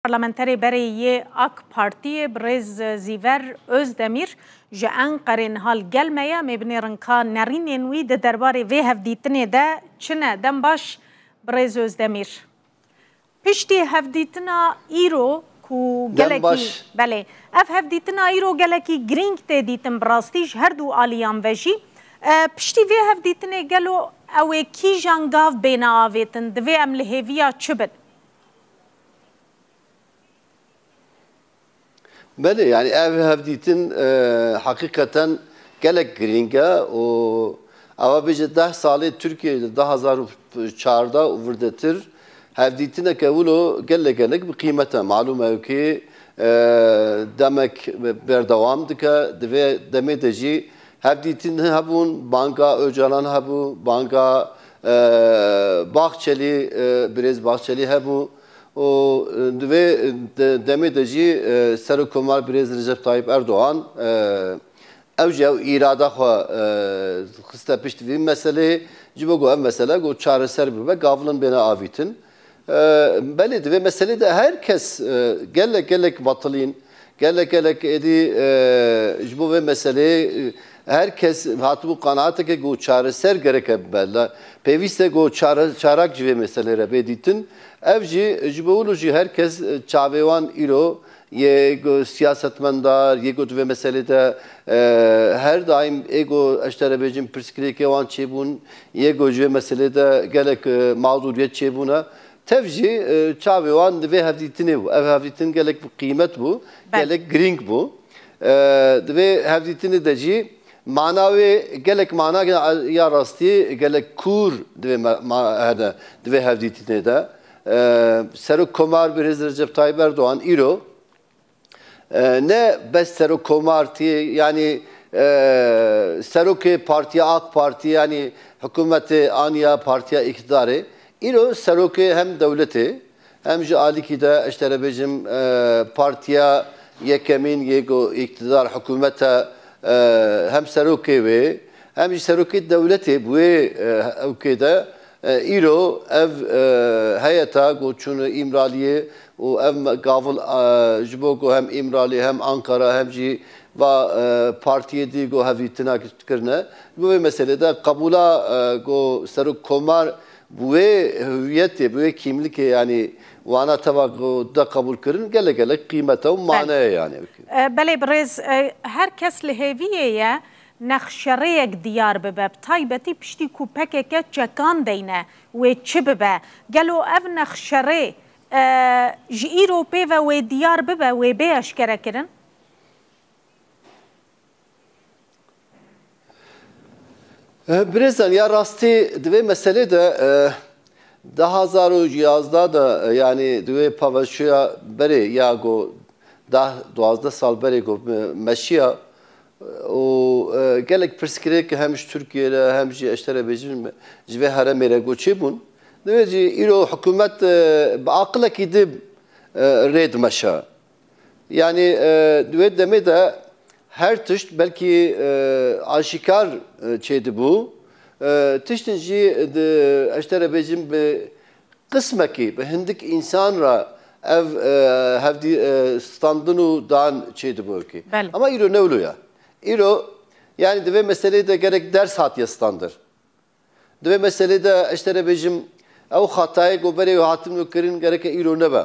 Parlamenterê berê yê ak Partiyê birêz Zîver Ozdemîr ji Enqerê niha li gel me ye, em ê binêrin ka nerînên wî di derbarê vê hevdîtinê de çi ne. Dem baş birêz Ozdemîr. Piştî hevdîtina îro ku gelekî belê ev hevdîtina îro gelekî girîng tê dîtin bi rastî ji her du aliyan ve jî. Piştî vê hevdîtinê gelo ew ê kîjan gav bêne avêtin, divê em li hêviya çi bin? Belê yani ev hevdîtin e, heqîqeten gelek girîng e û ewa bêje deh salê Tirkiyeyê di du hezar û çarda û virdetir hevdîtineke wilo gelek gelek bi qîmet e. Malûm e kê e, demek berdewam dike di vê demê de jî hevdîtin hebûn, banka Ocalan hebû, banka Bahçelî, Birêz Bahçelî hebû û di vê demê de jî Serokkomar Birêz Recep Tayyîp Erdogan ew jî ew îrada xwe xiste pişt vî meseleyê ji bo ku ev mesele ku çareser bibe gavlin bêne avîtin. Belê di vê meselê de her kes gelek gelek batilîn, gelek gelek êdî ji bo vê meseleyê her kes hatibû qenaateke ku çareser gereke bibe. Pêvîst e ku çarak ji vê meselê re bê dîtin. Ev jî ji bo wilo jî her kes çavê wan îro Yê ku siyasetmendar, yê ku di vê meselê de her daîm ê ku ez ji te re bêjim pirsgirêkê wan çêbûn, yê ku ji vê meselê de gelek mazûriyet çêbûne. Tev jî çavê wan di vê hevdîtinê bû. Ev hevdîtin gelek bi qîmet bû, gelek girîng bû. Di vê hevdîtinê de jî mana wê gelek mana ya rastî gelek kûr di vê hevdîtinê de. Serokkomar Birêz Recep Tayyîp Erdogan îro ne bes serokkomar tî yanî serokê Partiya AK Partî yanî hikûmetê aniya Partiya Îktidarê îro serokê hem dewletê hem ji alîkî de ez te re bêjim Partiya Yekemîn yê ku îktidar hikûmet e hem serokê wê hem jî serokê dewletê bi wê ewkê de Îro ev heyeta ku çûne Îmraliyê û ev gavil ji bo ku hem Îmrali hem Ankara hem jî va partiyê dî ku hevdîtina kirine. Ji bo vê meselê de qebûla ku serok komar bi wê hüwiyetê, bi wê kîmlikê yanî wana teva ku de qebûl kirin gelek gelek qîmete û maneye yanî. Belê birêz, her kes li hêviyê ye nexşerêyek diyar bibe bi taybetî piştî ku pkk çekan deyne wê çi bibe, gelo ev nexşerê ji îro pê ve wê diyar bibe wê bê eşkerekirin? Birêzan ya rastî di vê meselê de du hezar û yazdeh de yanî di wê paveçûya berê ya got deh duwazdeh sal berê got me şiya Û gelek pirsgirêk ki hem ji Tirkiyeyê re hem jî ez tera bêjin ji vê heremê re got çêbûn. Divê jî îro hikûmet bi aqilekî di rê dimeşe. Yanî di wê demê de her tişt belkî aşîkar çêdibû. Tiştên jî di ez tera bêjin bi Qismekî bi hindik însan re ev hevdî standin û dan çê dibo kî. Ama îro ne wilo ya. Îro yanî di vê meseleyê de gerek ders hatiye standir. Di vê meseleyê de eştere bêjim ew xatayê ku berê wê hatin û kirin gereke îro nebe.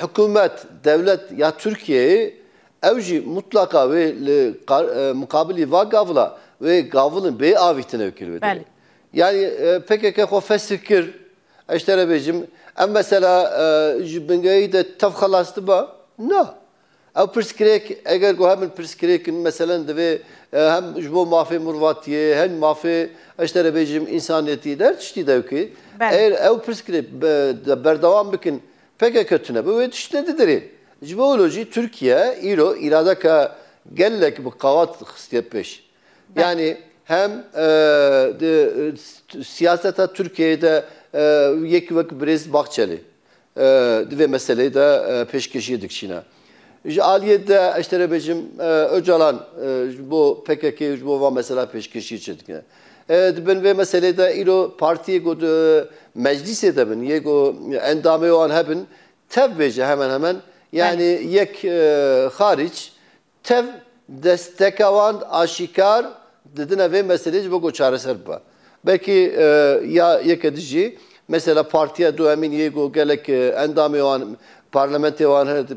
hikûmet, dewlet ya Tirkiyeyê ew jî mutlaka wê li muqabilî va gavila wê gavilin bê avîtin ew kir wê. Yani PKK xwe fesih kir eştere bêjim. Em mesela ji bingehî de tev xelas diba? Na. Ew pirsgirêk eger ku hebin pirsgirêk in meselen divê hem ji bo mafê mirvatiyê hem mafê ez te re bêjim însaniyetî di her tiştî de wekî eger ew pirsgirêk berdewam bikin pkk tune bi wê tiştine didirên. Ji bo wilo jî Tirkiye îro îradeke gelek bi qewat xistiye pêş. Yanî hem di siyaseta Tirkiyeyê de yekî wek Birêz Bahçelî Di vê meseleyê de pêşkêşiyê dikişîne. Ji aliyê de ez te re bêjim Ocalan ji bo PKK û ji bo van mesela pêşkêşiyê çi dike? Di bin vê meseleyê de îro partiyê ku di meclîsê de bin yê ku endamê wan hebin tev bêje hemen hemen yanî yek xarîc Tev desteka wan aşîkar didine vê meseleyê ji bo ku çareser bibe. Belkî ya yeke din jî mesela Partiya Duyemîn yê ku gelek endamê wan parlamentê wan hene di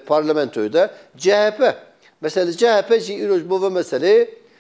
parlamentoyê de, chp. Mesela li chp jî îro ji bo vê meseleyê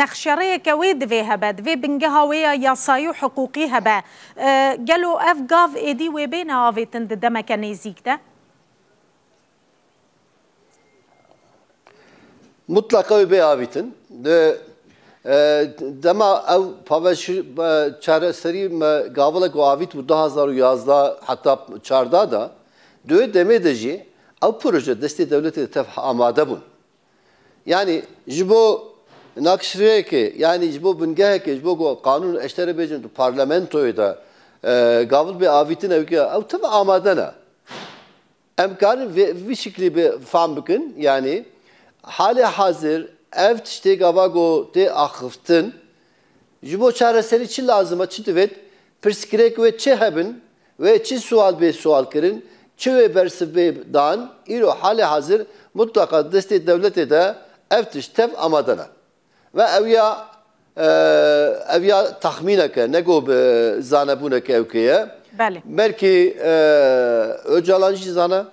Nexşerêyeke wê divê hebe, divê bingeha wê ya yasayî û hiqûqî hebe. Gelo ev gav êdî wê bêne avêtin di demeke nêzîk de? Mutleqa wê bê avîtin. Di dema ew çareserî me gavilek û avît bû du hezar û yazdeh heta çardeh de, di wê demê de jî ew proje destê dewletê de tev amade bûn. Yanî ji bo nakişrêyekê yanî ji bo bingehekê ji bo ku qanûn û eşterê bêjin di parlamentoyê de gavil bê avîtin ew ke ew tim amade ne. Em karin vê vî şiklî bi fam bikin yanî halê hazir ev tiştê gava ku tê axiftin ji bo çareserî çi lazim e çi divêt pirsgirêk wê çi hebin Wê çi siwal bê siwalkirin, çi wê bersiv bê dan, îro halê hazir mutleqa di destê dewletê de ev tişt tev amade ne. Ve ew ya ev ya texmînek e, ne ku bi zanebûnek ewkê ye. Belkî Ocalan jî zana.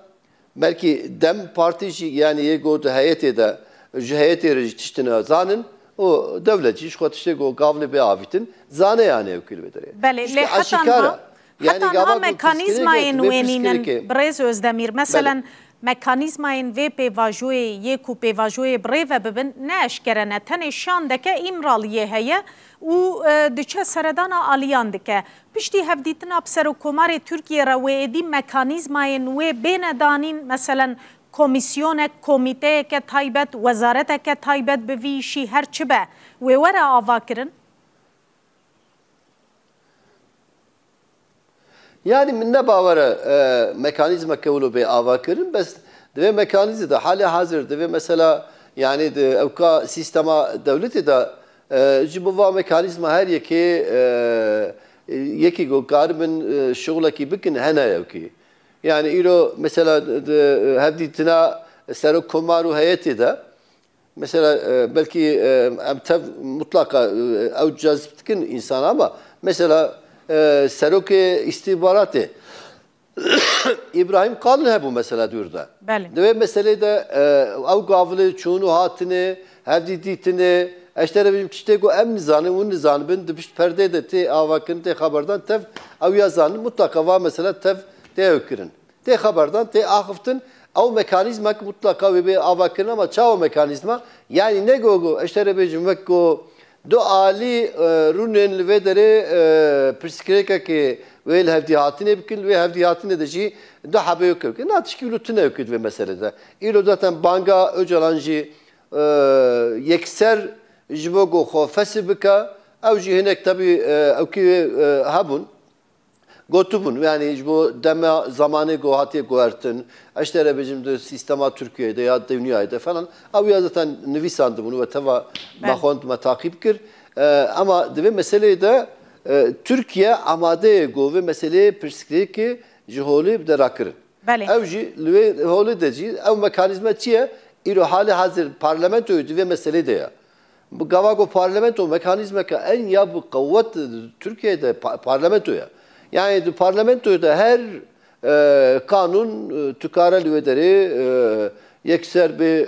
Belkî dem partî jî yanî yê ku di heyetê de ji heyetê re jî tiştê nazanin û dewlet jî ji xwe tiştê ku gavlê bê avîtin zane yanî ew kil bidire. Belê lê heta niha heta niha mekanîzmayên wê nînin birêz Ozdemîr. Meselen mekanîzmayên vê pêvajoyê yê ku pêvajoyê bi rê ve bibin ne eşkere ne. Tenê şandeke Îmraliyê heye û diçe seredana aliyan dike. Piştî hevdîtina bi Serokkomarê Tirkiyê re wê êdî mekanîzmayên wê bêne danîn, meselen komîsyonek, komîteyeke taybet, wezareteke taybet bi vî îşî her çi be, wê were avakirin? Yanî min ne bawer e mekanîzmeke wilo bê avakirin, bes di vê mekanîzê de halê hazir di vê mesela yanî di ewka sîstema dewletê de Ji bo van mekanîzma her yekê yekî ku karibin şixulekî bikin hene yewkî. Yanî îro mesela di hevdîtina Serok Komar û heyetê de mesela belkî em tev mutlaqa ew cezb dikin însanan ama mesela Serokê Îstîhbaratê Îbrahîm Kalin hebû mesela dûr de. Belê. Di wê meselê de ew gavilê çûn û hatinê, hevdî dîtinê, ez te re bêjim tiştê ku em nizanin, hûn nizanibin, di pişt perdê de tê avakirin, tê xeberdan, tev ew ya zanin mutlaka va mesela tev tê hewkirin. Tê xeberdan, tê axiftin, ew mekanîzmek mutlaka wê bê avakirina ma çawa mekanîzma? Yanî ne ku ez te re bêjim wek ku Du alî rûnên li vê derê pirsgirêkekê wê li hevdîhatinê bikin, li wê hevdîhatinê de jî du hebeyokê bikin. Na tişkî îro tune yo kir di vê meselê de. Îro zaten banga Ocalan jî yekser ji bo ku xwe fesih bike, ew jî hinek tevî ewkî hebûn. Gotibûn yanî ji bo dema zamanê ku hatiye guhertin eş te re bêjim di sîstema Tirkiyeyê de ya dûnyayê de falan ew ya zeten nivîsandibûn we teva me xwend me taqîb kir. Ema di vê meseleyê de Tirkiye amade ye ku vê meseleyê pirsgirêkê ji holê bide rakirin. Ew jî li wê holê de jî ew mekanîzme çi ye? Îro halê hezir parlamentoyê di vê meselê de ye. Bi gava ku parlamento mekanîzmeke en ya bi qewet di Tirkiyeyê de parlamento ye. Yanî di parlamentoyê de her qanûn tu kare li wê derê yekser bê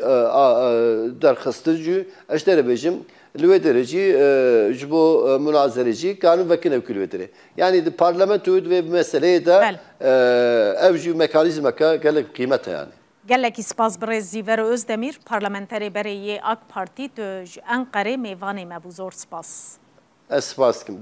derxistin jî ez têne bêjim li wê derê jî ji bo munazerê jî kanûn vekin ew kî li wê derê. Yanî di parlamentoyê di vê meseleyê de ew jî mekanîzmeke gelek bi qîmet e yanî. Gelekî spas birêz Zîver Ozdemîr parlamenterê berê yê Ak Partî tu ji Enqerê mêvanê me bû zor spas. Ez spas dikim.